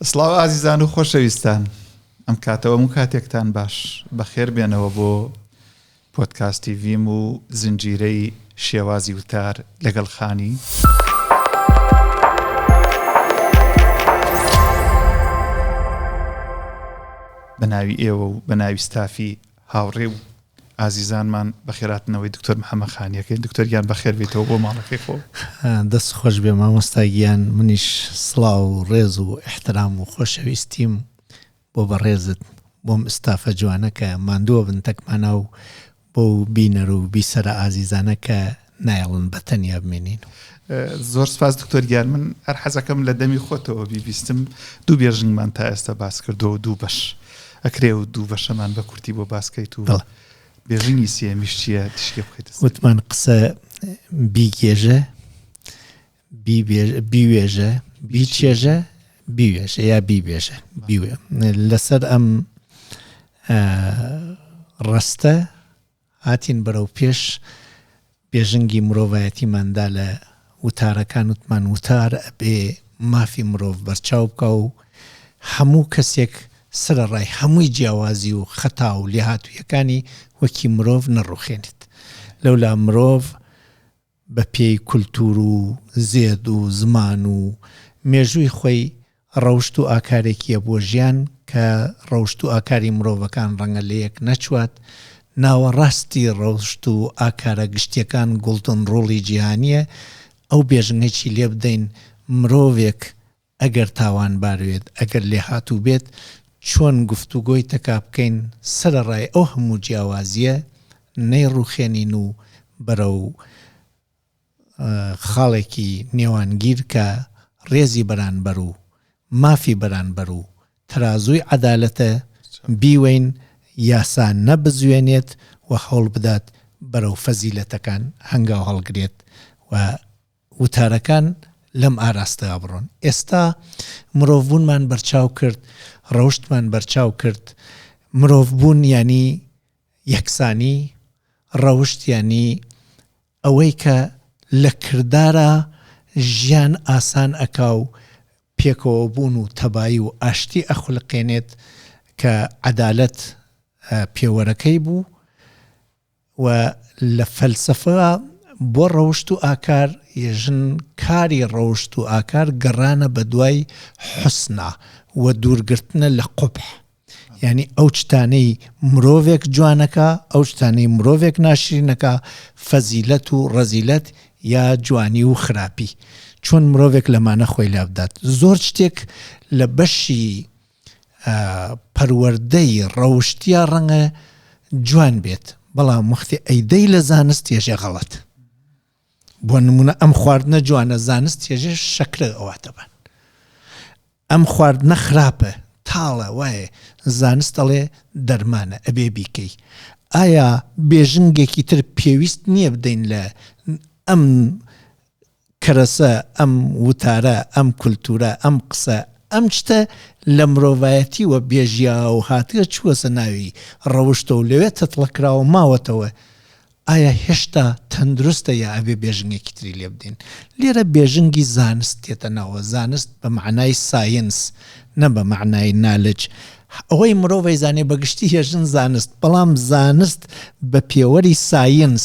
سڵاو ئازیزان و خۆشەویستان ئەم کاتەوە هەموو کاتێکتان باش بەخێر بێنەوە بۆ پۆتکاستی ڤیم و زنجیرەی شێوازی وتار لەگەڵ خانی. بە ناوی ئێوە و بە ناوی ستافی هاوڕێ و ئازیزانمان بەخێراتنەوەی دکتۆر محەمە خانیەکەین دکتۆر گیان بەخێر بێیتەوە بۆ ماڵەکەی خۆ دەست خۆش بێ مامۆستا گیان منیش سڵاو و ڕێز و احترام و خۆشەویستیم بۆ بەڕێزت بۆم ئستافە جوانەکە ماندووە بن تەکمانە و بۆ بینەر و بیسەرە ئازیزانەکە نایەڵن بە تەنیا بمێنین. زۆر سپاس دکتۆر گیان من هەر حەزەکەم لە دەمی خۆتەوە بیبیستم دوو بێژنگمان تا ئێستا باس کردو و دوو بەش ئەکرێ و دوو بەشەمان بە کورتی بۆ باسکەیت و بێژنگی سێمیش چییە تشکی بخیت وتمان قسە بیگێژە بیوێژە بیچێژە بیوێژە یا بیبێژە بیوێ لەسەر ئەم ڕستە هاتین بەرەو پێش بێژنگی مرۆڤایەتیمان دا لە وتارەکان وتمان وتار ئەبێ مافی مرۆڤ بەرچاو بکا و هەموو کەسێک سەرەڕای هەمووی جیاوازی و خەتا و لێهاتوویەکانی وەکی مرۆڤ نەڕوخێنێت لەولا مرۆڤ بە پێی کولتوور و زێد و زمان و مێژووی خۆی ڕەوشت و ئاکارێکییە بۆ ژیان کە ڕەوشت و ئاکاری مرۆڤەکان ڕەنگە لە یەک نەچوات، ناوەڕاستی ڕەوشت و ئاکارە گشتییەکان گۆڵدن ڕوڵی جیهانییە، ئەو بێژنگەی چی لێ بدەین مرۆڤێک ئەگەر تاوانبار بێت، ئەگەر لێهاتوو بێت، چۆن گفتوگۆی تەکا بکەین سەرەڕای ئەو هەموو جیاوازییە نەیڕوخێنین و بەرەو خاڵێکی نێوانگیر کە ڕێزی بەرانبەر و مافی بەرانبەر و تەرازووی عەدالەتە بیوەین یاسا نەبزوێنێت و هەوڵبدات بەرەو فەزیلەتەکان هەنگاو هەڵگرێت و وتارەکان لەم ئاراستەدا بڕۆن. ئێستا مرۆڤبوونمان بەرچاو کرد، ڕەوشتمان بەرچاو کرد، مرۆڤبوون یانی یەکسانی، ڕەوشت یانی ئەوەی کە لە کردارا ژیان ئاسان ئەکا و پێکەوەبوون و تەبایی و ئاشتی ئەخولقێنێت کە عەدالەت پێوەرەکەی بوو، و لە فەلسەفە بۆ ڕەوشت و ئاکار ی ژن کاری ڕەوشت و ئاکار گەڕانە بە دوای حوسنە و دوورگرتنە لە قوبح یانی ئەو شتانەی مرۆڤێک جوانەکا ئەو شتانەی مرۆڤێک ناشرینەکا فەزیلەت و ڕەزیلەت یا جوانی و خراپی چۆن مرۆڤێک لەمانە خۆی لابدات زۆر شتێک لە بەشی پەروەردەی ڕەوشتیا ڕەنگە جوان بێت بەڵام وەختی ئەیدەی لە زانست تێژێ غەڵەت بۆ نمونە ئەم خواردنە جوانە زانست تێژێ شەکرە ئەواتەبان ئەم خواردنە خراپە تاڵە وایە زانست دەڵێ دەرمانە ئەبێ بیکەی ئایا بێژنگێکی تر پێویست نییە بدەین لە ئەم کەرەسە، ئەم وتارە، ئەم کولتوورە، ئەم قسە، ئەم شتە لە مرۆڤایەتییەوە بێژیاو و هاتگە چووەسە ناوی ڕەوشتە و لەوێ تەتڵە کراوە و ماوەتەوە. ئایا هێشتا تەندروستە یا ئەبێ بێژنگێکی تری لێ بدەین؟ لێرە بێژنگی زانست دێتە ناوەوە، زانست بە مەعنای ساینس نە بە مەعنای نالج. ئەوەی مرۆڤ ئەیزانێ بە گشتی ئێژن زانست، بەڵام زانست بە پێوەری ساینس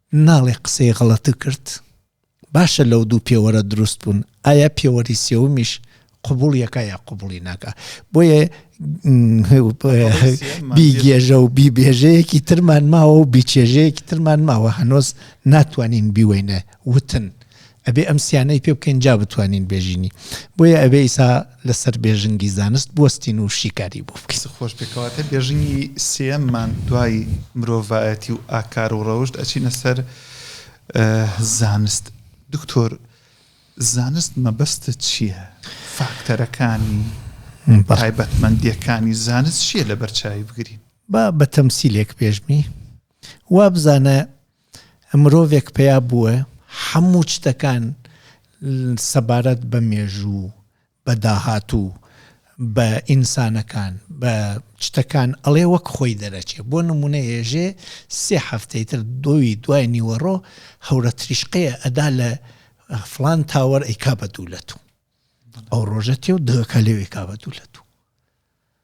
ناڵێ قسەی غەڵەت کرد؟ باشە لەو دوو پێوەرە دروست بوون ئایا پێوەری سێومیش قبوڵیەکە یا قبوڵی ناکە بۆیە بیگێژە و بیبێژەیەکی ترمان ماوە و بیچێژەیەکی ترمان ماوە هەنۆز ناتوانین بیوەینە وتن ئەبێ ئەم سیانەی پێ بکەین جا بتوانین بێژینی بۆیە ئەبێ ئیسا لەسەر بێژنگی زانست بوەستین و شیکاری بۆ بکەین. دەست خۆش بێ کەواتە بێژنگی سێیەم مان دوای مرۆڤایەتی و ئاکار و ڕەوشت ئەچینە سەر زانست دکتۆر زانست مەبەستت چیە فاکتەرەکانی تایبەت مەندیەکانی زانست چیە لەبەر چاوی بگرین. با بە تەمسیلێک پێشمی وابزانە مرۆڤێک پەیا بووە حەموو چتەکان سەبارەت بە مێژوو بە داهاتوو بە ئینسانەکان بە چتەکان ئەڵێ وەک خۆی دەرەچێ بۆ نمونە ێژێ سێ هەفتەی تر دۆوی دوای نیوەڕۆ هەورە تریشقەیە ئەدا لە فلان تاوەر ئەیکا بە دوولەت و ئەو ڕۆژە تێ و دەکە لێوێکا بە دوولەت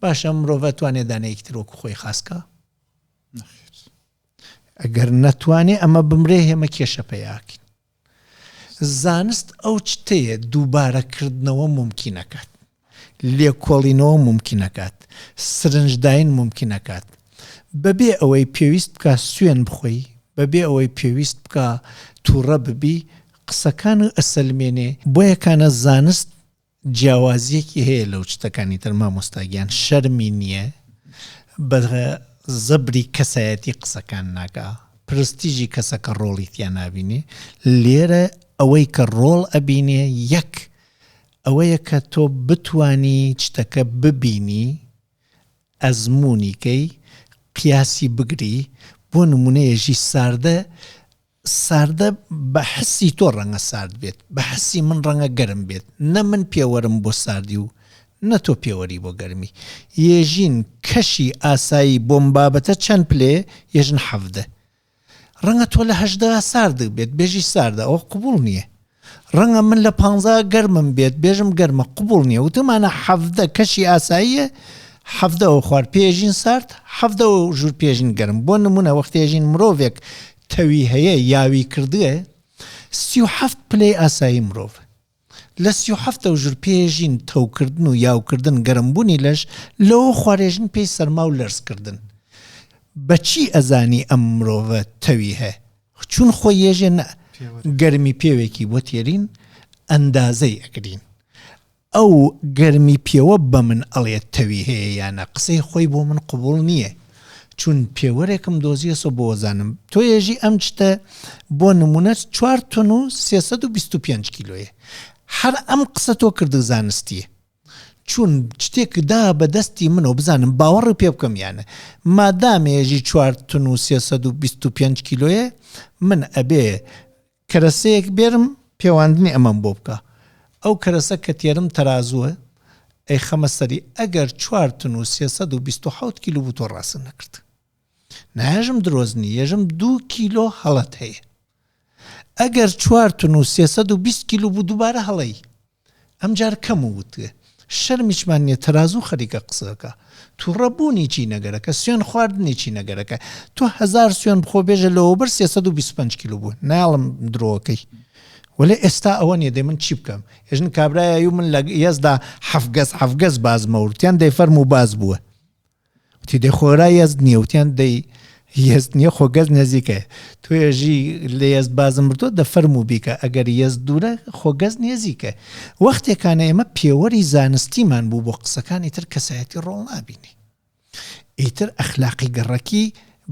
باشە مرۆڤ ئەتوانێ دانەیەکی تر وەکو خۆی خاس کا؟ نەخێر. ئەگەر نەتوانێ ئەمە بمرێ هێمە کێشە پەیاکەین. زانست ئەو شتەیە دووبارەکردنەوە مومکینەکات. لێکۆڵینەوە مومکینەکات. سرنجداین مومکینەکات. بەبێ ئەوەی پێویست بکا سوێن بخۆی، بەبێ ئەوەی پێویست بکا تووڕە ببی، قسەکان ئەسەلمێنێ. بۆیە کانە زانست جیاوازیەکی هەیە لەو شتەکانی تر مامۆستا گیان شەرمی نییە بە زەبری کەسایەتی قسەکان ناکا پرستیژی کەسەکە ڕۆڵی تیا نبینێ لێرە ئەوەی کە ڕۆڵ ئەبینێ یەک ئەوەیە کە تۆ بتانی شتەکە ببینی ئەزمونیکەی قیاسی بگری بۆ نمونەیەژی ساردە ساردە بە حسی تۆ ڕەنگە سارد بێت بە حسی من ڕەنگە گەرم بێت نە من پێوەرم بۆ ساردی و نە تۆ پێوەری بۆ گەرمی یێژین کەشی ئاسایی بۆم بابەتە چەند پلێ یێژن حەڤدە ڕەنگە تۆ لە هەژدە سارد بێت بێژی ساردە ئەوە قبوڵ نییە ڕەنگە من لە پانزا گەرمم بێت بێژم گەرمە قبوڵ نیە وتمانە حەڤدە کەشی ئاساییە حەڤدە و خوار پێژین سارد حەڤدە و ژور پێژین گەرم بۆ نمونە وەختێژین مرۆڤێک تەوی هەیە یاوی کردگە سی و حەفت پلەی ئاسایی مرۆڤ لە سی و حەفتە و ژور پێژین تەوکردن و یاوکردن گەرمبوونی لەش لەوە خوارێژن پێی سەرما و لەرزکردن بەچی ئەزانی ئەم مرۆڤە تەوی هەیە چون خۆ یێژێ نە گەرمی پێوێکی بۆ تێرین ئەندازەی ئەگرین. ئەو گەرمی پێوە بە من ئەڵێت تەوی هەیە یا نە قسەی خۆی بۆ من قبوڵ نییە. چون پێوەرێکم دۆزیەسۆ بۆ وەزانم تۆ یێژی ئەم جتە بۆ نمونە چوار تۆن و سێ سەد و بیست و پێنج کیلۆیە. هەر ئەم قسە تۆ کردگ زانستییە. چون چتێک دا بە دەستی منەوە بزانم باوەڕی پێ بکەم یا نە مادامێ ژی چوار تن و سێ سەد و بیست و پێنج کیلۆیە من ئەبێ کەرەسەیەک بێرم پێواندنی ئەمەم بۆ بکا ئەو کەرەسە کە تێرم تەرازووە ئەیخەمە سەری ئەگەر چوار تن و سێ سەد و بیست و حەوت کیلو بوو تۆ ڕاستت نەکرد ناێژم درۆزنی ێژم دوو کیلۆ هەڵەت هەیە ئەگەر چوار تون و سێ سەد و بیست کیلو بوو دووبارە هەڵەی ئەمجار کەم و وتێ شەرمیشمان نیە تەرازوو خەریکە قسەکە توڕە بوونی چی نەگەرەکە سوێن خواردنی چی نەگەرەکە تۆ هزار سوێن بخۆ بێژە لەوەبەر سێ سەد و بیست و پەنج کیلو بوو ناڵم درۆکەی وەێ ئێستا ئەوە نیە دەی من چی بکەم ێژن کابراایە و من لە یەزدا حەفگەز حەفگەز باز مەورتیان دەیفەرم و باز بووە وتی دەی خۆرا یەزد نییە وتیان دەی یەزد نییە خۆ گەز نێزیکە توێژی لە یەزد بازم مردۆ دە فەرم و بیکە ئەگەر یەز دوورە خۆ گەز نێزیکە وەختێکانە ئێمە پێوەری زانستیمان بوو بۆ قسەکانی تر کەسایەتی ڕۆڵ نابینی ئیتر ئەخلاقی گەڕەکی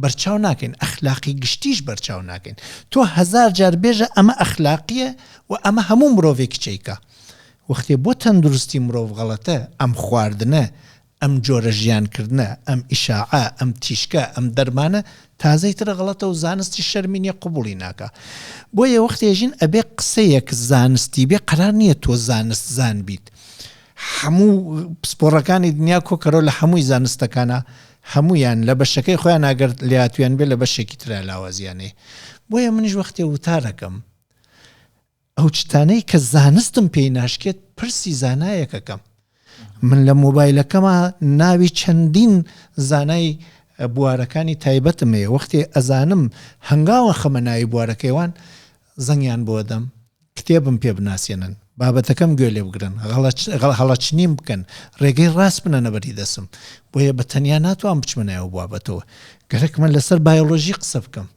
بەرچاو ناکەین ئەخلاقی گشتیش بەرچاو ناکەین تۆ هزار جار بێژە ئەمە ئەخلاقیە و ئەمە هەموو مرۆڤێک چیکە وەختێ بۆ تەندروستی مرۆڤ غەڵەتە ئەم خواردنە ئەم جۆرە ژیان کردنە، ئەم ئیشاعە، ئەم تیشکە، ئەم دەرمانە تازەی ترە غەڵەتە و زانستیش شەرمی نیە قبوڵی ناکا. بۆیە وەختێ ژین ئەبێ قسەیەک زانستی بێ قەرار نیە تۆ زانست زان بیت. هەموو پسپۆڕەکانی دنیا کۆکەرەوە لە هەمووی زانستەکانا هەموویان لە بەشەکەی خۆیان ئەگەر لێهاتوویان بێ لە بەشێکی ترا لاوازیان هەیە. بۆیە منیش وەختێ وتارەکەم. ئەو شتانەی کە زانستم پێی ناشکێت پرسی زانایەکەکەم من لە مۆبایلەکەما ناوی چەندین زانای بوارەکانی تایبەتم هەیە وەختێ ئەزانم هەنگاوە خەمە ناوی بوارەکەیوان زەنگیان بۆ دەم کتێبم پێ بناسیێنن بابەتەکەم گوێ لێ بگرن هەڵەچنیم بکەن ڕێگەی ڕاست بنەنە بەری دەسم بۆیە بە تەنیا ناتوان بچمنایەوە بوابەتەوە گەرەکمە لەسەر بایۆلۆژی قسە بکەم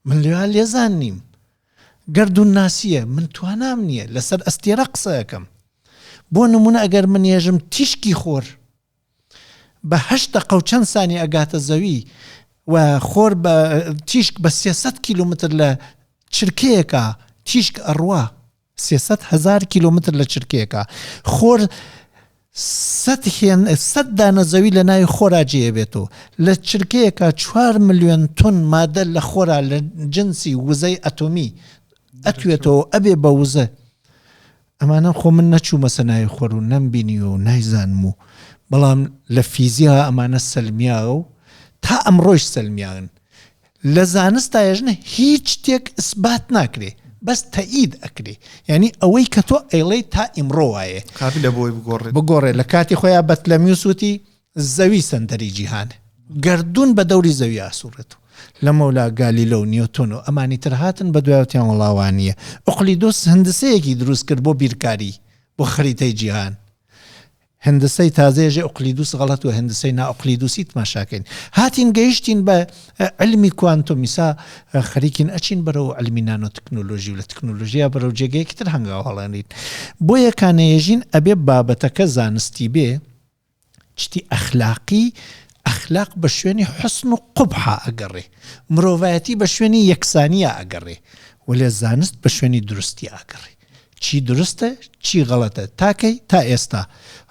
من لێوا لێزان نیم. گەردوونناسییە، من توانام نییە لەسەر ئەستێرە قسە ئەکەم. بۆ نموونە ئەگەر من یەژم تیشکی خۆر بە هەشت دەقە و چەند سانیە ئەگاتە زەوی و خۆر بە تیشک بە سێ سەد کیلۆمەتر لە چرکەیەکا تیشک ئەڕوا، سێ سەد هەزار کیلۆمتر لە چرکەیەکا خۆر سەد هێن سەد دانە زەوی لە ناوی خۆرا جێ ئەبێت و لە چرکەیەکا چوار ملیۆن تون مادە لە خۆرا لە جنسی وزەی ئەتۆمی ئەتوێتەوە ئەبێ بە وزە ئەمانە خۆ من نەچوومەسە ناوی خۆر و نەمبینی و نایزانم و بەڵام لە فیزیا ئەمانە سەلمیاوە و تا ئەمڕۆیش سەلمیاون لە زانستا یەژنە هیچ شتێک ئسبات ناکرێ بەس تەئید ئەکرێ یانی ئەوەی کە تۆ ئەیڵێی تا ئیمڕۆ وایێ قابلە بۆی بگۆڕێت بگۆڕێ لە کاتی خۆیا بەتلەمیوس وتی زەوی سەندەری جیهانە گەردوون بە دەوری زەوی ئاسوڕێت و لەمەولا گالیلە و نیۆتۆن و ئەمانی تر هاتن بە دوایوتیان وەڵا وانیە ئوقلیدۆس هندسەیەکی دروست کرد بۆ بیرکاری بۆ خەریتەی جیهان هندسەی تازەیەژێ ئوقلیدوس غەڵەت و هندسەی نا ئوقلیدوسی تماشا کەین هاتین گەیشتین بە علمی کوانتوم ئیسا خەریکین ئەچین بەرەو علمی نانۆ تکنۆلۆژی و لە تکنۆلۆژیا بەرەو جێگەیەکی تر هەنگاو هەڵێنین بۆیە کانەیەژین ئەبێ بابەتەکە زانستی بێ چتی ئەخلاقی ئەخلاق بە شوێنی حوسن و قوبحا ئەگەڕێ مرۆڤایەتی بە شوێنی یەکسانیا ئەگەڕێ وەلێ زانست بە شوێنی دروستیا ئەگەڕێ چی دروستە چی غەڵەتە تا کەی تا ئێستا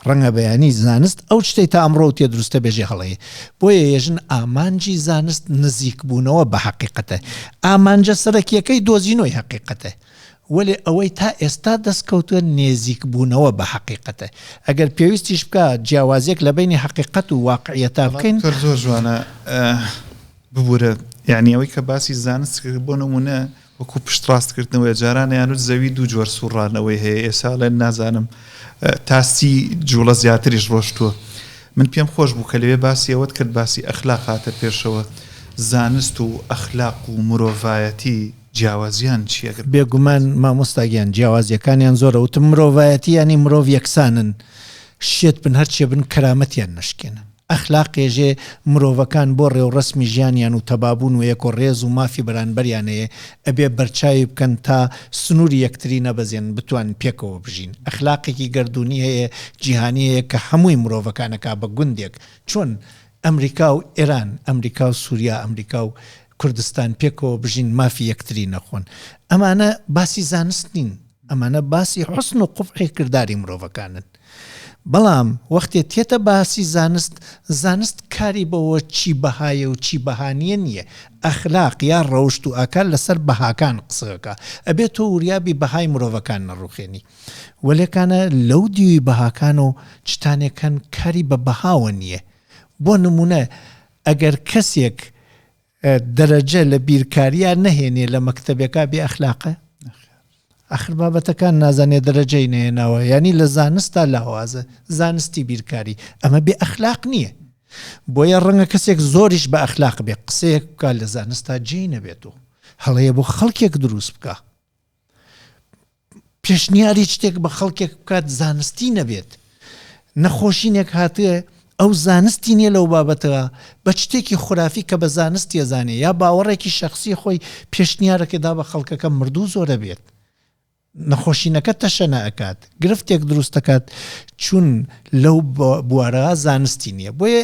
ڕەنگە بەیانی زانست ئەو شتەی تا ئەمڕۆ و تێ دروستە بێژێ هەڵەیە بۆیە یەژن ئامانجی زانست نزیک بوونەوە بە حەقیقەتە ئامانجە سەرەکیەکەی دۆزینەوەی حەقیقەتە وەێ ئەوەی تا ئێستا دەستکەوتووە نێزیک بوونەوە بە حەقیقەتە ئەگەر پێویستیش بکە جیاوازێک لە بینی حەقیقەت و واقعیەتا بکەین زۆر جوانە ببورە یعنی ئەوەی کە باسی زانست بۆ نمونە وەکو پشتڕاستکردنەوەیە جاران ئەیانوت زەوی دوو جۆر سوڕانەوەی هەیە ئێسا ئەڵێن نازانم تا سی جوڵە زیاتریش ڕۆشتووە من پێم خۆش بوو کە لەوێ باسی ئەوەت کرد باسی ئەخلاق هاتە پێشەوە زانست و ئەخلاق و مرۆڤایەتی جیاوازیان چییە گەر بێگومان مامۆستا گیان جیاوازیەکانیان زۆرە وتم مرۆڤایەتی ینی مرۆڤ یەکسانن شێت بن هەرچێ بن کەرامەتیان نشکێنن ئەخلاقێژێ مرۆڤەکان بۆ ڕێوڕەسمی ژیانیان و تەبابوون و ێەکۆ ڕێز و مافی بەرانبەریانەێ ئەبێ بەرچاوی بکەن تا سنووری یەکتری نەبەزێنن بتوانن پێکەوە بژین ئەخلاقێکی گەردوونی هەێە جیهانی هەێە کە هەمووی مرۆڤەکان ئەکا بە گوندێک چۆن ئەمریکا و ئێران ئەمریکا و سوریا ئەمریکا و کوردستان پێکەوە بژین مافی یەکتری نەخۆن ئەمانە باسی زانست نین ئەمانە باسی حوسن و قوبحی کرداری مرۆڤەکانن. بەڵام وەختێ تێتە باسی زانست، زانست کاری بەوە چی بەهایە و چی بەها نیە نیە، ئەخلاق یا ڕەوشت و ئاکار لەسەر بەهاکان قسە ئەکا، ئەبێ تۆ وریابی بەهای مرۆڤەکان نەڕوخێنی. وەلێ کانە لەو دیوی بەهاکانەو چتانێک هەن کاری بە بەهاوە نیە، بۆ نمونە ئەگەر کەسێک دەرەجە لە بیرکاریا نەهێنێ لە مەکتەبێکا بێ ئەخلاقە؟ ئەخر بابەتەکان نازانێ دەرەجەی نەهێناوە یانی لە زانستا لاوازە زانستی بیرکاری ئەمە بێ ئەخلاق نییە بۆیە ڕەنگە کەسێک زۆریش بە ئەخلاق بێ قسەیەک بکە لە زانستا جێی نەبێت و هەڵەیە بۆ خەڵکێک دروست بکە پێشنیاری شتێک بە خەڵکێک بکات زانستی نەبێت نەخۆشینێک هاتێ ئەو زانستی نیە لەو بابەتەوە بە شتێکی خورافی کە بە زانستی زانێ یا باوەڕێکی شخصی خۆی پێشنیارەکەدا بە خەڵکەکە مردوو زۆرە بێت نەخۆشینەکە تەشەنە ئەکات گرفتێک دروستەکات چون لەو بوارە زانستی نییە بۆیە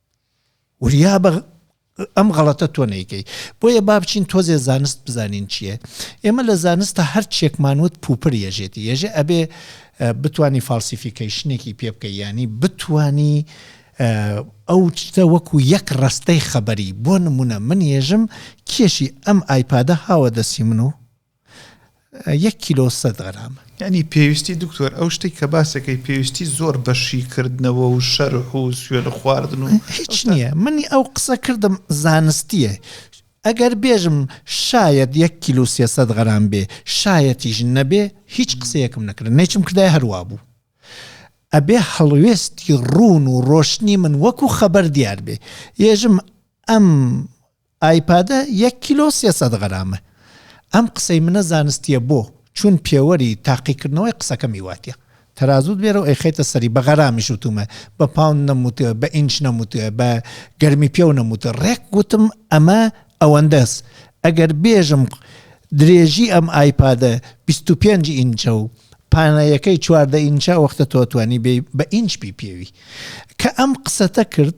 وریابە ئەم غەڵەتە تۆ نەیکەی بۆیە با بچین تۆزێ زانست بزانین چییە ئێمە لە زانستە هەر چێکمان وت پوپر یەژێتی یەژێ ئەبێ بتانی فالسیفیکەیشنێکی پێ بکەی ینی بتانی ئەو چتە وەکو یەک ڕستەی خەبەری بۆ نمونە من یێژم کێشی ئەم ئایپادە هاوە دەسی من و یەک کیلۆ سەد غرام. یانی پێویستی دکتۆر ئەو شتێک کە باسەکەی پێویستی زۆر بە شیکردنەوە و شەرح و سوێ لە خواردن و هیچ نییە منی ئەو قسە کردم زانستیە ئەگەر بێژم شاید یەک کیلو سێسەد غەرام بێ شایەتیش نەبێ هیچ قسەیەکم نەکرد نەیچم کردای هەروا بوو ئەبێ هەڵوێستی ڕوون و ڕۆشنی من وەکو خەبەر دیار بێ یێژم ئەم ئایپادە یەک کیلۆ سێ سەد غەرامە. ئەم قسەی منە زانستیە بۆ؟ چون پێوەری تاقیکردنەوەی قسەکەم هیواتیە تەرازوت بێرەو ئەیخەیتە سەری بە غەرامیش وتومە بە پاوند نەم وتوە بە ئینچ نەم وتوە بە گەرمی پێو نەم وتوە ڕێک وتم ئەمە ئەوەندەس ئەگەر بێژم درێژی ئەم ئایپادە بیست و پێنج ئینچە و پانایەکەی چواردە ئینچە ئەوەختە تۆ توانی بێی بە ئینچ پی پێوی کە ئەم قسەتە کرد،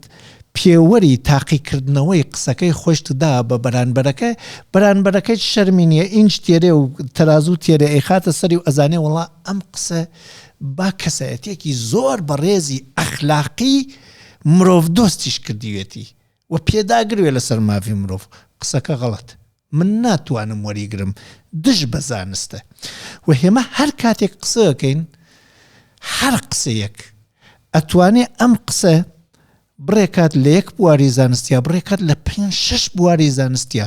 پێوەری تاقیکردنەوەی قسەکەی خۆشت دا بە بەرانبەرەکە، بەرانبەرەکەیت شەرمی نیە ئینج تێرێ و تەرازوو تێرێ ئەیخاتە سەری و ئەزانێ وەڵا ئەم قسە با کەسایەتیەکی زۆر بەڕێزی ئەخلاقی مرۆڤ دۆستیش کردیوێتی و پێداگروێ لەسەر ماڤی مرۆڤ، قسەکە غەڵەت من ناتوانم وەریگرم دژ بە زانستە وە هێمە هەر کاتێک قسە ئەکەین هەر قسەیەک ئەتوانێ ئەم قسە بڕێ کات لە یەک بواری زانستیا بڕێ کات لە پێ شش بواری زانستیا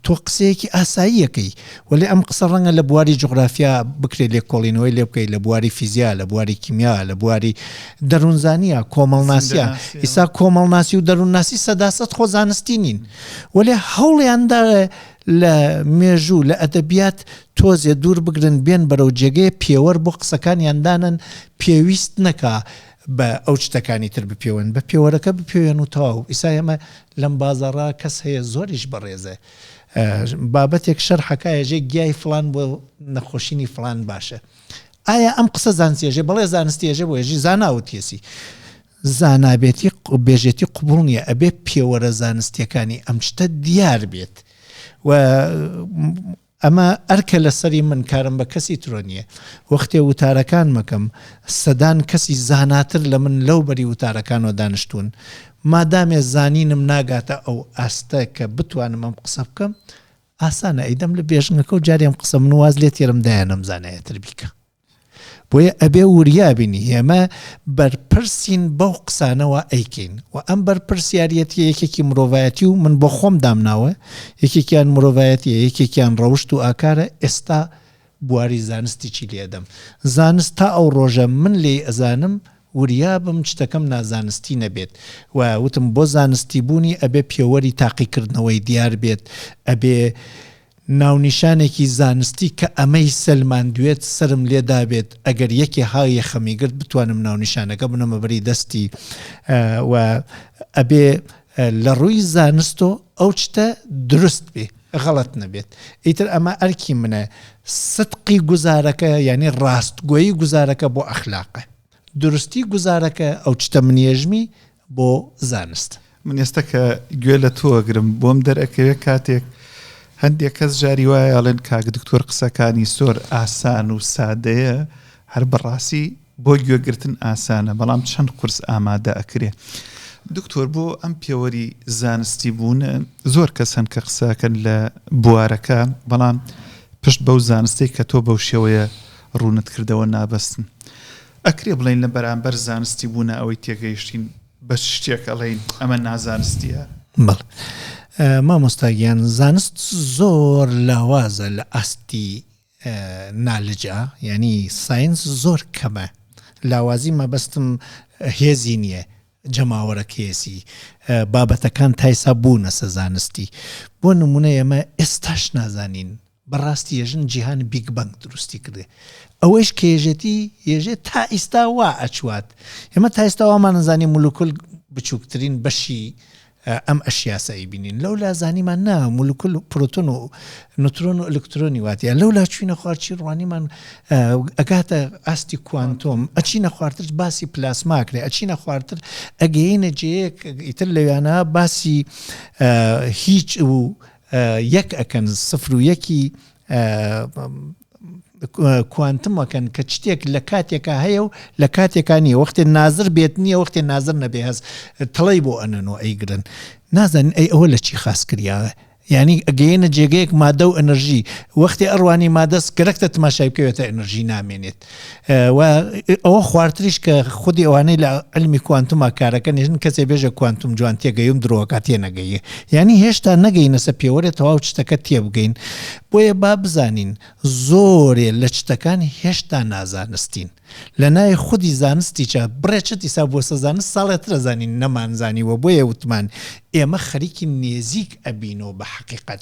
تۆ قسەیەکی ئاساییەکەی وەێ ئەم قسە ڕەنگە لە بواری جغرافیا بکرێت لێ کۆڵینەوەی لێ بکەیت لە بواری فیزیا لە بواری کیمیا لە بواری دەروونزانە کۆمەڵناسیە ئیسا کۆمەڵناسی و دەروونناسی سەداسەد خۆ زانستی نین وەلێ هەوڵیان دا لە مێژوو، لە ئەدەبیات تۆزێ دوور بگرن، بێن بەرەو جێگەێ پێوەر بۆ قسەکانیان دانەن، پێویست نەکا بە ئەو چتەکانی تر بپێون، بە پێوەرەکە بپێوێن و تەواو. ئیسا ئێمە لەم بازاڕا کەس هەیە زۆریش بەڕێزە، بابەتێک شەرحە کا یەژێ گیای فڵان بۆ نەخۆشینی فڵان باشە. ئایا ئەم قسە زانسیەژێ؟ بەڵێ زانستیەژێ بۆ یەژی زانا وتیەسی. زانابێتی بێژێتی قبوڵ نیە ئەبێ پێوەرە زانستیەکانی ئەم شتە دیار بێت و ئەمە ئەرکە لەسەری من کارم بە کەسی ترۆ نیە وەختێ وتارەکان مەکەم سەدان کەسی زاناتر لە من لەو بەری وتارەکانەوە دانیشتون مادامێ زانینم ناگاتە ئەو ئاستە کە بتوانم ئەم قسە بکەم ئاسانە ئەیدەم لە بێژنگەکە و جارێم قسە من واز لێ تێرم دایە نەمزانایەتر بیکە بۆیە ئەبێ وریا بین ئێمە بەرپرسین بەو قسانەوە ئەیکەین و ئەم بەرپرسیاریەتی یەکێکی مرۆڤایەتی و من بۆ خۆم دامناوە یەکێکیان مرۆڤایەتی یەکێکیان ڕەوشت و ئاکارە ئێستا بواری زانستیی لێدەم زانست تا ئەو ڕۆژە من لێی ئەزانم وریا بم شتەکەم نازانستی نەبێت و وتم بۆ زانستی بوونی ئەبێ پێوەری تاقیکردنەوەی دیار بێت ئەبێ ناونیشانێکی زانستی کە ئەمەی سەلماندوێت سەرم لێ دابێت ئەگەر یەکێ ها یەخەمی گرت بتوانم ناونیشانەکە بنەمە بەری دەستی وە ئەبێ لە ڕووی زانستۆ ئەو چتە دروست بێ غەڵەت نەبێت ئیتر ئەمە ئەرکی منە سدقی گوزارەکە یانی ڕاستگۆی گوزارەکە بۆ ئەخلاقە دروستی گوزارەکە ئەو چتە منێژمی بۆ زانست. من ئێستا کە گوێ لە تۆ ئەگرم بۆم دەرئەکەوێ کاتێک هەندێک کەس جاری وایە ئەڵێن کاک دکتۆر قسەکانی زۆر ئاسان و سادەیە هەر بەڕاستی بۆ گوێگرتن ئاسانە بەڵام چەند قورس ئامادە ئەکرێ دکتۆر بۆ ئەم پێوەری زانستی بوون زۆر کەس هەن کە قسەکەن لە بوارەکە بەڵام پشت بەو زانستی کە تۆ بەو شێوەیە ڕوونت کردەوە نابەستن ئەکرێ بڵێین لە بەرامبەر زانستی بوو نا ئەوەی تێگەیشتین بە چ شتێک ئەڵێین ئەمە نازانستیە؟ بەڵ مامۆستاگیان زانست زۆر لاوازە لە ئاستی نالجا ینی ساینس زۆر کەمە لاوازی مەبەستم هێزی نییە جەماوەرە کێسی بابەتەکان تایسا بوونە سەزانستی بۆ نمونە ئێمە ئێستاش نازانین بەڕاستی یەژن جیهان بیگ بەنگ دروستی کردێ ئەوەیش کە یەژێتی یەژێ تا ئیستا وا ئەچوات ئێمە تا ئیستا وامان ئەزانی مولوکل بچوکترین بەشی ئەم ئەشیاسە ئەیبینین لەولا زانیمان نا مولکل پروتون و نوترۆن و ئەلکترۆنی واتە لەولا چوینە خوارچی ڕوانیمان ئەگاتە ئاستی کوانتۆم ئەچینە خوارتر باسی پلاسماکرێ ئەچینە خوارتر ئەگەینە جەیەک ئیتر لەویانە باسی هیچ و یەک ئەکەن سفر و یەکی کوانتم ئەکەن کە شتێک لە کاتێکا هەیە و لە کاتێکا نیە وەختێ نازر بێت نییە وەختێ نازر نەبێ هەست تڵی بۆ ئەنەن و ئەیگرن نازانن ئەی ئەوە لە چی خاس کریاە ینی ئەگەینە جێگەیەک مادە و ئەنرژی وەختی ئەڕوانی مادەست گەرەکتە تماشای بکەوێتە ئەنرژی نامێنێت و ئەوە خواردتریش کە خودی ئەوانەی لە علمی کوانتوما کارەکە نێژن کەسێ بێژە کوانتوم جوان تێگەیم درۆکە تێ نەگەیە یعنی هێشتا نەگەینەسە پێوەێ تەواو شتەکە تێبگەین بۆیە با بزانین زۆرێ لە شتەکان هێشتا نازانستین لە ناوی خودی زانستیچە بڕێچە دیسا بۆ سەزانست ساڵێ ترەزانین نەمانزانیوە بۆیە وتمان ئێمە خەریکی نێزیک ئەبینەوە بە حقیقت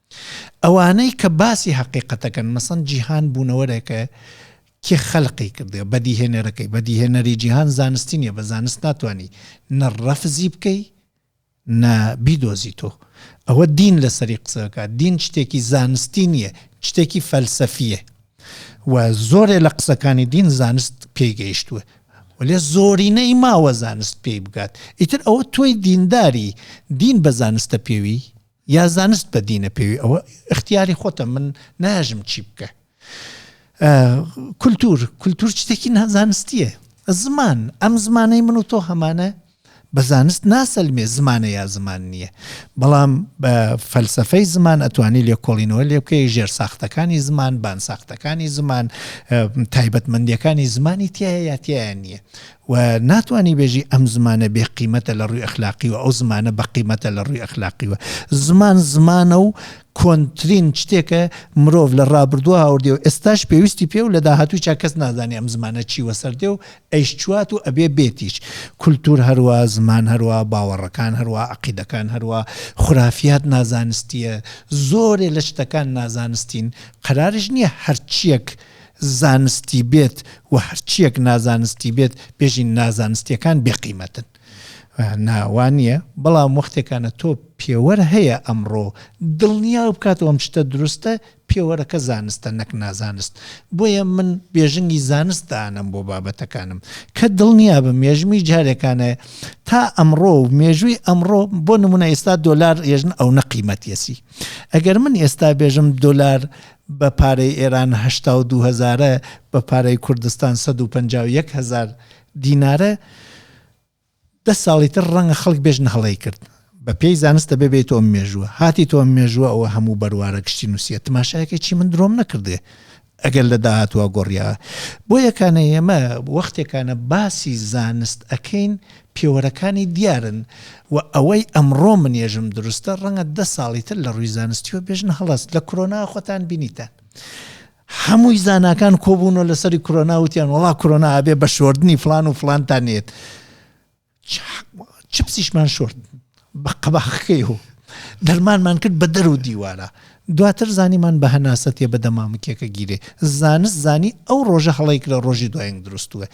ئەوانەی کە باسی هەقیقەتەکەن مەسەن جیهان بوونەوەرێکە کێ خەلقی کردێ بەدیهێنەرەکەی بەدیهێنەری جیهان زانستی نیە بە زانست ناتوانانی نە ڕەفزی بکەی نە بیدۆزی تۆ ئەوە دین لەسەری قسەکە دین شتێکی زانستی نییە شتێکی فەلسەفیە و زۆرێ لە قسەکانی دین زانست پێگەیشتووە وەێ زۆرینەی ماوە زانست پێی بگات ئیتر ئەوە تۆی دینداری دین بە زانستە پێوی یا زانست بە دینە پێوی ئەوە اختیاری خۆتە من ناژم چی بکە کولتور کولتور شتێکی نازانستیە زمان ئەم زمانەی من و تۆ هەمانە بە زانست ناسەلمێ زمانە یا زمان نییە بەڵام بە فەلسفەی زمان ئەتوانی لێکۆڵینەوە لێ بکەی ژێر ساختەکانی زمان بان ساختەکانی زمان تایبەتمەندیەکانی زمانی تایەتیان نییە وە ناتوانی بێژی ئەم زمانە بێ قیمەتە لە ڕووی ئەخلاقیوە ئەو زمانە بە قیمەتە لە ڕووی ئەخلاقیوە زمان زمانە و کۆنترین شتێکە مرۆڤ لە ڕابردوو هاوردێ و ئێستاش پێویستی پێ و لە داهاتوویشا کەس نازانێ ئەم زمانە چی وەسەردێ و ئەیشچوات و ئەبێ بێتیش کولتوور هەروا زمان هەروا باوەڕەکان هەروا عەقیدەکان هەروا خورافیات نازانستییە زۆرێ لە شتەکان نازانستین قەراریش نییە هەرچییەک زانستی بێت و هەرچیەک نازانستی بێت بێژین نازانستیەکان بێ قیمەتن ناوانە بەڵام وەختێکانە تۆ پێوەر هەیە ئەمڕۆ دڵنیا بکات ئەم شتە دروستە پێوەرەکە زانستە نەک نازانست بۆیە من بێژنگی زانست دانم بۆ بابەتەکانم کە دڵنیا بە مێژمی جارێکانە تا ئەمڕۆ و مێژووی ئەمڕۆ بۆ نمونە ئێستا دۆلار ێژن ئەو نەقیمەتیەسی ئەگەر من ئێستا بێژم دۆلار بە پارەی ئێران هەشتا و دوو هەزارە، بە پارەی کوردستان سەد و پەنجا و یەک هەزار دینارە، دە ساڵی تر ڕەنگە خەڵک بێژن هەڵەی کرد، بە پێی زانست دەبێ بێیتەوە مێژووە، هاتیتەوە مێژووە ئەوە هەموو بەروارە گشتی نووسیە تماشایەکە چی من درۆم نەکردێ ئەگەر لە داهاتووە گۆڕیا بۆیەکانە ئێمە وەختێکانە باسی زانست ئەکەین پێوەرەکانی دیارن و ئەوەی ئەمڕۆ منێژم دروستە ڕەنگە دە ساڵی تر لە ڕووی زانستیەوە بێژن هەڵەست لە کرۆنا خۆتان بینیتان هەمووی زاناکان کۆبوون و لەسەری کرۆنا وتیان وڵا کرۆنا ئەبێ بە شۆردنی فلان و فلانتان نێت چ پسیشمان شۆرد بە قەباخەکەی و دەرمانمان کرد بە دەر و دیوارا دواتر زانیمان بە هەناسە تێ بەدە مامکیەکە گیرێ زانست زانی ئەو ڕۆژە هەڵەیک لە ڕۆژی دوایین دروستوە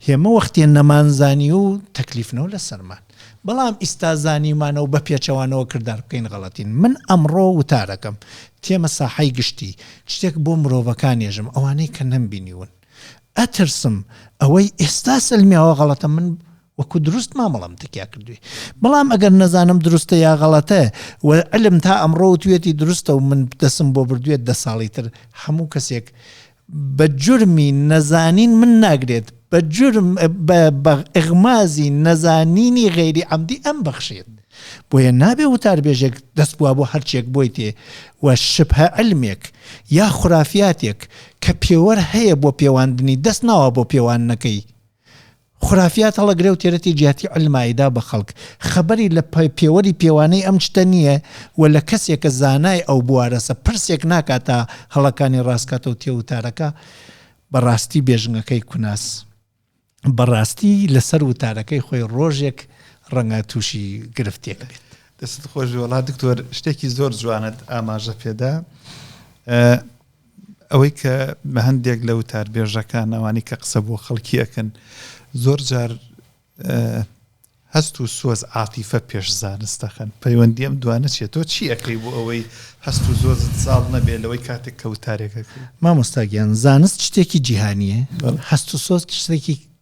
هێمە وەختێ نەمان زانی و تەکلیفنەوە لە سەرمان بەڵام ئیستا زانیمانە و بە پێچەوانەوە کردار بکەین غەڵەتین من ئەمڕۆ وتارەکەم تێمە ساحەی گشتی شتێک بۆ مرۆڤەکانێژم ئەوانەی کە نەمبینیون ئەترسم ئەوەی ئێستا سلمیاوە غەڵەتە من وەکو دروست مامەڵەم تکیا کردوی بەڵام ئەگەر نەزانم دروستە یا غەڵەتە و علم تا ئەمڕۆ وتوێتی دروستە و من دەسم بۆ بردوێت دە ساڵی تر هەموو کەسێک بە جرمی نەزانین من ناگرێت بە جرم بە ئغمازی نەزانینی غێری ئەمدی ئەم بەخشێت بۆیە نابێ وتاربێژێک دەست بووە بۆ هەرچێک بۆی تێ و شبهە علمێک یا خورافاتێک کە پێوەەر هەیە بۆ پێواندنی دەست ناوە بۆ پێوان نەکەی خورافیات هەڵە گرەو تێرەتی جیاتی علم ئایدا بە خەڵک خەبەری لە پە پێوەری پێوانەی ئەم شتە نیە و لە کەسێ کە زانای ئەو بوارەسە پرسێک ناکا تا هەڵەکانی ڕاست کاتەو تێ وتارەکە بە ڕاستی بێژنگەکەی کوناس بە ڕاستی لە سەر وتارەکەی خۆی ڕۆژێک ڕەنگە تووشی گرفتێک بێت. دەست خۆش وڵات دکتۆر شتێکی زۆر جوانت ئاماژە پێدا ئەوەی کە بە هەندێک لە وتاربێژەکان ئەوانەی کە قسە بۆ خەڵکی ئەکەن زۆر جار هەست و سۆز عاتیفە پێش زانست دەخەن پەیوەندی ئەم دوانە چێت تۆ چی ئەەکەی بۆ ئەوەی هەست و زۆزت زاڵ نەبێت لەوەی کاتێک کەوتارێکەکە مامۆستاگیان زانست شتێکی جیهانیە هەست و سۆز شتێکی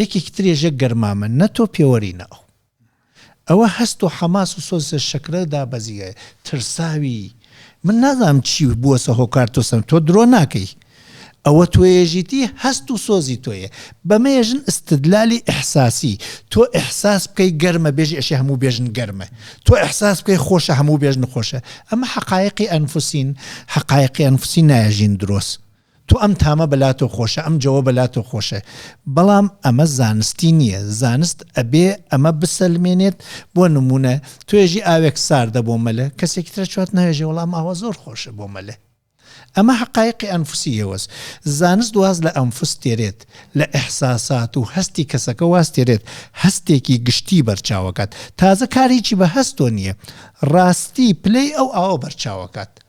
یەکێکی تر یەژێ گەرمامە نە تۆ پێوەری نە ئەو ئەوە هەست و حەماس و سۆز لە شەکرە دابەزییە ترساوی من نازانم چی بووەسە هۆکار تۆ سەن تۆ درۆ ناکەی ئەوە تۆێژیتی هەست و سۆزی تۆیە بەمەیە ژن ئستدلالی ئحساسی تۆ ئحساس بکەی گەرمە بێژی ئەشێ هەموو بێژن گەرمە تۆ ئحساس بکەی خۆشە هەموو بێژن خۆشە ئەمە حقایقی ئەنفسین حقایقی ئەنفسی نایەژین درۆست تۆ ئەم تامە بە لاتۆ خۆشە ئەم جەوە بە لاتۆ خۆشە بەڵام ئەمە زانستی نیە زانست ئەبێ ئەمە بسەلمێنێت بۆ نمونە توێژی ئاوێک ساردە بۆ مەلە کەسێکی ترە چوات ناێژێ وەڵام ئاوە زۆر خۆشە بۆ مەلێ ئەمە حقایقی ئەنفسی یەوەس زانست واز لە ئەنفس تێرێت لە ئەحساسات و هەستی کەسەکە واز تێرێت هەستێکی گشتی بەرچاوکات تازە کارێکی بە هەستۆ نییە ڕاستی پلەی ئەو ئاوە بەرچاوکات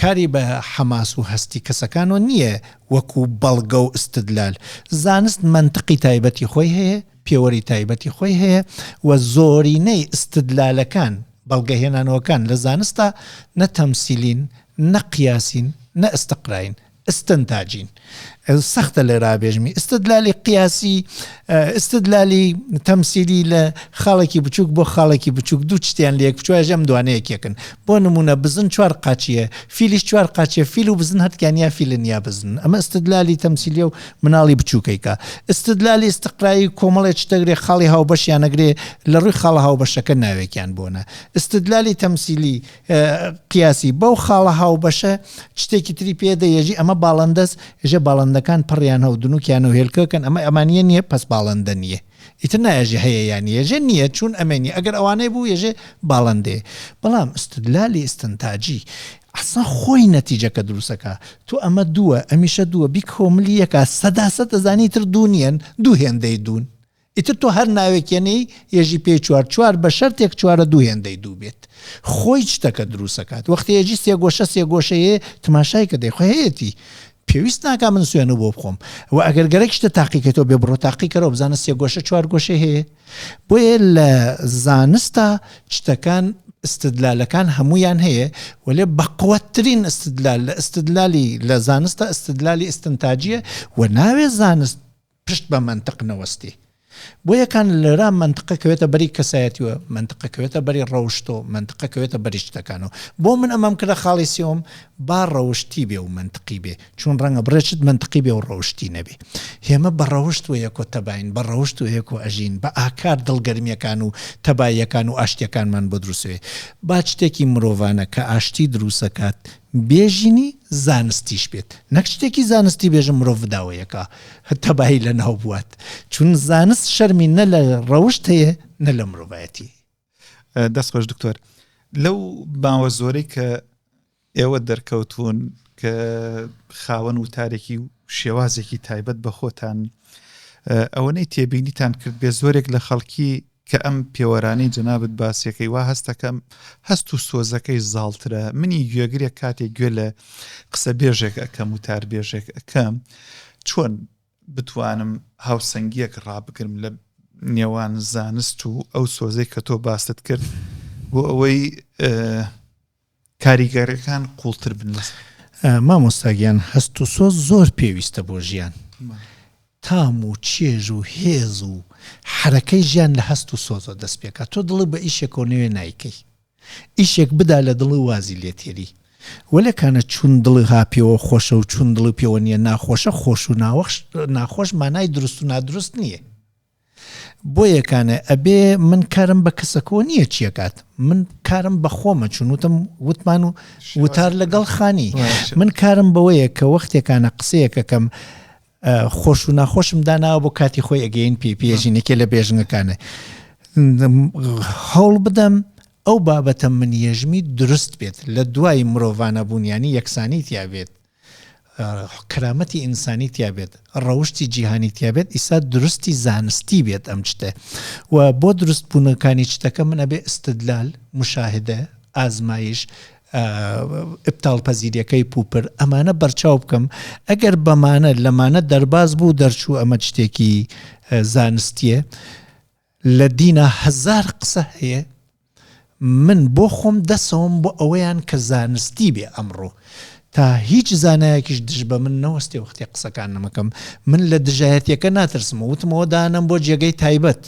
کاری بە حەماس و هەستی کەسەکانەوە نییە وەکو بەڵگە و ئیستدلال. زانست مەنتقی تایبەتی خۆی هەیە، پێوەری تایبەتی خۆی هەیە و زۆرینەی ئیستدلالەکان، بەڵگەهێنانەوەکان لە زانستدا نە تەمسیلین، نە قیاسین، نە ئیستقراین. ئیستنتاجین سەختە لێرا بێژمی ئیستدلالی قیاسی ئیستدلالی تەمسیلی لە خاڵێکی بچووک بۆ خاڵێکی بچووک دوو شتیان لە یەکچواژ ئەم دوانە یەکێکن بۆ نمونە بزن چوار قاچیە فیلیش چوار قاچێ فیل و بزن هەتکیان یا فیلن یا بزن ئەمە ئیستدلالی تەمسیلی و مناڵی بچووکەیکە ئیستدلالی ئیستقرایی کۆمەڵێ شتەگرێ خاڵی هاوبەشیانەگرێ لە ڕووی خاڵە هاوبەشەکە ناوێکیان بۆنە ئیستدلالی تەمسیلی قیاسی، بەو خاڵە هاوبەشە چتێکی تری پێ دە یەژی ئەمە باڵندەس ژە باڵندەکان پڕیان هەو دنوکیان و هێلکەکەن ئەمە ئەمانە نیە پەس باڵندە نیە ئیتر نایەژێ هەیە یان یەژێ نییە چون ئەمەنی ئەگەر ئەوانەی بوو یەژێ باڵندێ بەڵام استدلالی استنتاجی ئەسا خۆی نەتیجەکە دروستەکە تۆ ئەمە دووە ئەمیشە دووە بیکۆملی یەکە سەدا سەد دەزانی تر دوو نیەن دوو هێندەی دوون ئیتر تۆ هەر ناوێک یەنێی یەژی پێی چوار چوار بە شەرتێک چوارە دوو هێندەی دوو بێت خۆی شتەکە دروست ئەکات وەختی یەژی سێ گۆشە سێ گۆشە یێ تماشای کە دەی خۆ هەیەتی پێویست ناکا من سوێنو بۆ بخۆم و ئەگەر گەرەک شتە تاقیکەیتەوە بێ بڕۆ تاقی کەرەوە بزانە سێ گۆشە چوار گۆشەی هەیە بۆیە لە زانستا شتەکان استدلالەکان هەمویان هەیە وەلێ بەقوەترین استدلال لە استدلالی لە زانستە استدلالی استنتاجیە و ناوێ زانست پشت بە مەنتق نەوەستی. بۆیە کان لەرا مەنتق کەوێتە بەری کەسایەتی و مەنتق کەوێتە بەری ڕەوشت و مەنتق کەوێتە بەری شتەکان و بۆ من ئەمەم کردە خاڵی سێوم با ڕەوشتی بێ و مەنتقی بێ چوون ڕەنگە بڕێ شت مەنتقی بێ و ڕەوشتی نەبێ هێمە بە ڕەوشت و یەکۆ تەباین بە ڕەوشت و یەکۆ ئەژین بە ئاکار دڵگەرمیەکان و تەباییەکان و ئاشتیەکانمان بۆ دروسێ با چتێکی مرۆڤانە کە ئاشتی دروسەکات بێژینی زانستیش بێت نەک شتێکی زانستی بێژم مرۆڤ بداوەیەکا تەبایی لەناو بوات چون زانست شەرمی نە لە ڕەوشت هەیە نە لە مرۆڤایەتی. دەست خۆش دکتۆر لەو باوە زۆرەی کە ئێوە دەرکەوتون کە خاوەن وتارێکی و شێوازێکی تایبەت بە خۆتان ئەوەنەی تێبینیتان کرد بێ زۆرێک لە خەڵکی کە ئەم پێوەرانەی جەنابت باسیەکەی وا هەستەکەم هەست و سۆزەکەی زاڵترە منی گوێگرێک کاتێک گوێ لە قسە بێژێک ئەکەم و تار بێژێک ئەکەم چۆن بتوانم هاوسەنگیەک ڕابگرم لە نێوان زانست و ئەو سۆزەی کە تۆ باست کرد بۆ ئەوەی کاریگەرەکان قوڵتر بن لەسەر. مامۆستا گیان هەست و سۆز زۆر پێویستە بۆ ژیان تام و چێژ و هێز و حەرەکەی ژیان لە هەست و سۆزەوە دەست پێکا تۆ دڵی بە ئیشێکەوە نوێ نایکەی ئیشێک بدا لە دڵی وازی لێ تێری وەلێ کانە چون دڵی ها پێوە خۆشە و چون دڵی پێوە نییە ناخۆشە خۆش و ناوەخش ناخۆش مانای دروست و نادروست نییە بۆیە کانێ ئەبێ من کارم بە کەسەکۆ نییە چیەکات من کارم بە خۆمە چون وتم وتمان و وتار لەگەڵ خانی من کارم بەوەیە کە وەختێکانە قسەیەکەکەم خۆش و ناخۆشم داناوە بۆ کاتی خۆی ئەگەین پێ پێژینەکە لە بێژنەکانە هەوڵ بدەم ئەو بابەتە من یژمی دروست بێت لە دوای مرۆڤانە بوونیانی یەکسانی تیاابێت کرامەتی ئینسانی تیابێت ڕەوشی جیهانی تیابێت ئیسا درستی زانستی بێت ئەم شتێ و بۆ دروست بوونەکانی شتەکە من ئەبێ استدلال مشاهدە ئازمایش ئپتال پەزیریەکەی پوپر ئەمانە بەرچاو بکەم ئەگەر بەمانە لەمانە دەرباز بوو دەرچوو ئەمە شتێکی زانستیە لە دینا هەزار قسە هەیە من بۆ خۆم دەسەوم بۆ ئەوەیان کە زانستی بێ ئەمڕۆ تا هیچ زانایەکیش دژ بە من نەوەستێ وەختێ قسەکان نەمەکەم من لە دژایەتیەکە ناترسم وتمەوە دانەم بۆ جێگەی تایبەت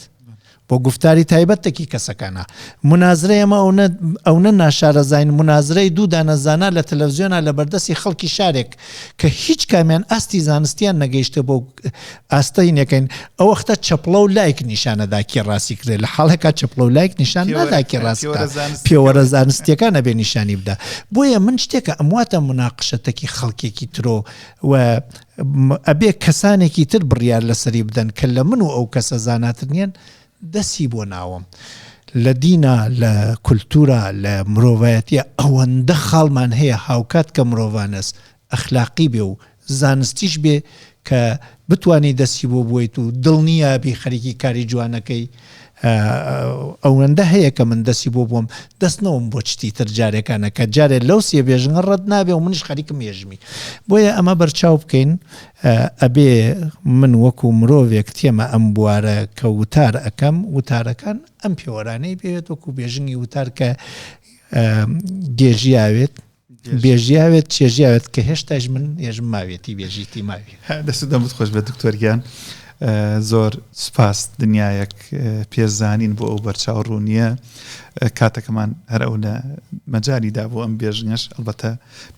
بۆ گفتاری تایبەتەکی کەسەکانە منازرە ئەمە ئەونە ئەونە ناشارەزین منازرەی دوو دانەزانە لە تەلەڤزیۆنا لە بەردەستی خەڵکی شارێک کە هیچ کامیان ئاستی زانستیان نەگەیشتە بۆ ئاستە هینەکەین ئەوەختە چەپڵە و لایک نیشانەدا کێ ڕاستی کرێ لە حاڵێکا چەپڵە و لایک نیشان نادا کێ ڕاستکە پێوەرە زانستیەکان نەبێ نیشانی بدا بۆیە من شتێکە ئەمواتە مناقشەتەکی خەڵکێکی ترۆ و ئەبێ کەسانێکی تر بڕیار لەسەری بدەن کە لە من و ئەو کەسە زاناتر نیەن دەسی بۆ ناوم. لە دینا لە کولتورا لە مرۆڤایەتە ئەوەندە خاڵمان هەیە هاوکات کە مرۆڤانەس ئەخلاقی بێ و زانستیش بێ کە بتوانی دەستی بۆ بوەیت و دڵنیابی خەریکی کاری جوانەکەی ئەوەندە هەیە کە من دەستی بۆ بووم دەست نەوم بۆ چتی تر جارێکانە کە جارێ لەو سێ بێژنگە ڕەت نابێ و منیش خەریکم یێژمی بۆیە ئەمە بەرچاو بکەین ئەبێ من وەکو مرۆڤێک تێمە ئەم بوارە کە وتار ئەەکەم وتارەکان ئەم پێوەرانەی بێت وەکو بێژنگی وتار کە گێژیاوێت بێژیاوێت چێژیاوێت کە هێشتاش من ێژم ماوێتی بێژیتی ماوی دەست دەمت خۆش بە دکتۆرگیان زۆر سپاس دنیایەک پێزانین بۆ ئەو بەرچاو ڕوونیە کاتەکەمان هەر ئەو لە مەجای دا بۆ ئەم بێژنەش ئەڵبەتە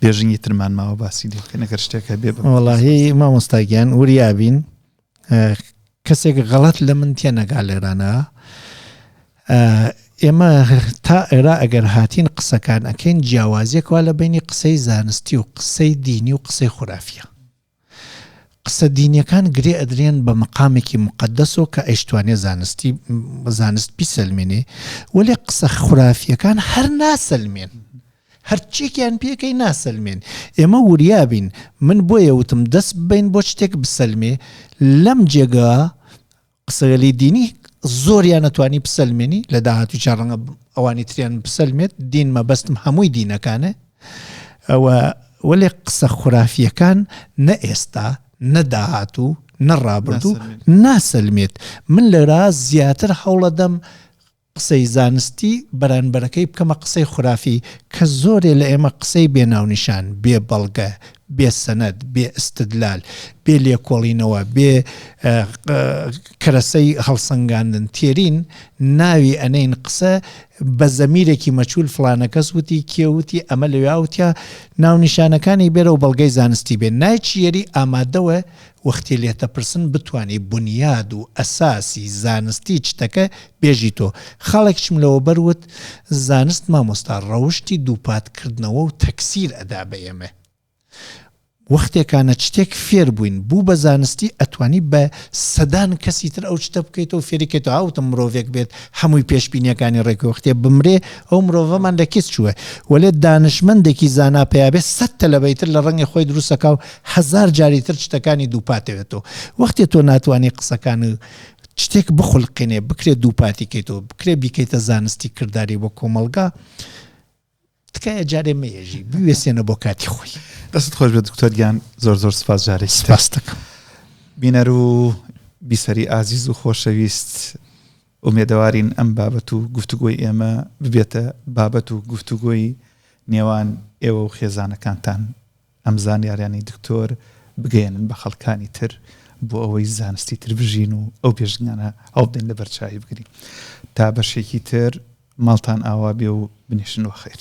بێژنی ترمان ماوە باسی لێکە نەگەر شتێکە بێ بەڵی مامۆستاگیان وریابین کەسێک غەڵەت لە من تێنەگا لێرانە ئێمە تا ئێرا ئەگەر هاتین قسەکان ئەکەین جیاوازیەکوا لە بینی قسەی زانستی و قسەی دینی و قسەی خورافە قسە دینیەکان گرێ ئەدرێن بە مقامێکی مقدەسەوە کە ئەیشتوانێ زانستی زانست بیسەلمێنێ وەێ قسە خورافیەکان هەر ناسەلمێن هەرچیەکیان پێکەی ناسەلمێن ئێمە وریابین من بۆیە وتم دەست ببەین بۆ شتێک بسەلمێ لەم جێگا قسەگەلی دینی زۆریان نەتوانی بسەلمێنی لە داهاتوی چار ڕەنگە ئەوانی تریان بسەلمێت دین مەبەستم هەمووی دینەکانە ئەوە وەێ قسە خورافیەکان نە ئێستا نەداهاتوو نەڕابردوو ناسەلمێت من لەرا زیاتر هەوڵەدەم قسەی زانستی بەرانبەرەکەی بکەمە قسەی خورافی کە زۆرێ لە ئێمە قسەی بێ ناونیشان، بێ بەڵگە، بێ سەنەد، بێ ئیستدلال، بێ لێکۆڵینەوە، بێ کەرەسەی هەڵسەنگاندن تێرین ناوی ئەنێین قسە بە زەمیرێکی مەچول فڵانە کەس وتی کێ وتی ئەمە لەوێ ئەوتیا ناونیشانەکانی بێرە و بەڵگەی زانستی بێ نایچیەری ئامادەوە وەختی لێتەپرسن بتوانی بونیاد و ئەساسی زانستی چتەکە بێژیتۆ خاڵێکیشم لەوەبەر وت زانست مامۆستا ڕەوشتی دووپات کردنەوە و تەکسیر ئەدا بە ئێمە وەختێکانە چتێک فێر بووین بوو بە زانستی ئەتوانی بە سەدان کەسی تر ئەو چتە بکەیتەوە فێری کەیتەوە هاوتم مرۆڤێک بێت هەمووی پێشبینیەکانی ڕێکەوە وەختێ بمرێ ئەو مرۆڤەمان لە کیس چووە وەلێ دانشمەندێکی زانا پیا بێت سەد تەلەبەی تر لە ڕەنگی خۆی دروستەکا و هەزار جاری تر شتەکانی دووپاتەوێتەوە وەختێ تۆ ناتوانانی قسەکان شتێک بخولقێنێ بکرێت دووپاتی کەیتەوە بکرێت بیکەیتە زانستی کردداری بۆ کۆمەلگا تکایە جارێ مێژی بوێسێنە بۆ کاتی خۆی دەست خۆش بە دکتۆریان زۆر زۆر سپاس جارێک سپاستەکە بینەر و بیسەری ئازیز و خۆشەویست ئومێدەوارین ئەم بابەت و گفتوگۆی ئێمە ببێتە بابەت و گفتوگۆی نێوان ئێوە و خێزانەکانتان ئەم زانیاریانەی دکتۆر بگەیەنن بە خەڵکانی تر بۆ ئەوەی زانستی تر بژین و ئەو بێژنگانە هەڵبدەین لە بەرچاوی بگرین تا بەشێکی تر ماڵتان ئاوا بێ و بنیشن وە خیر.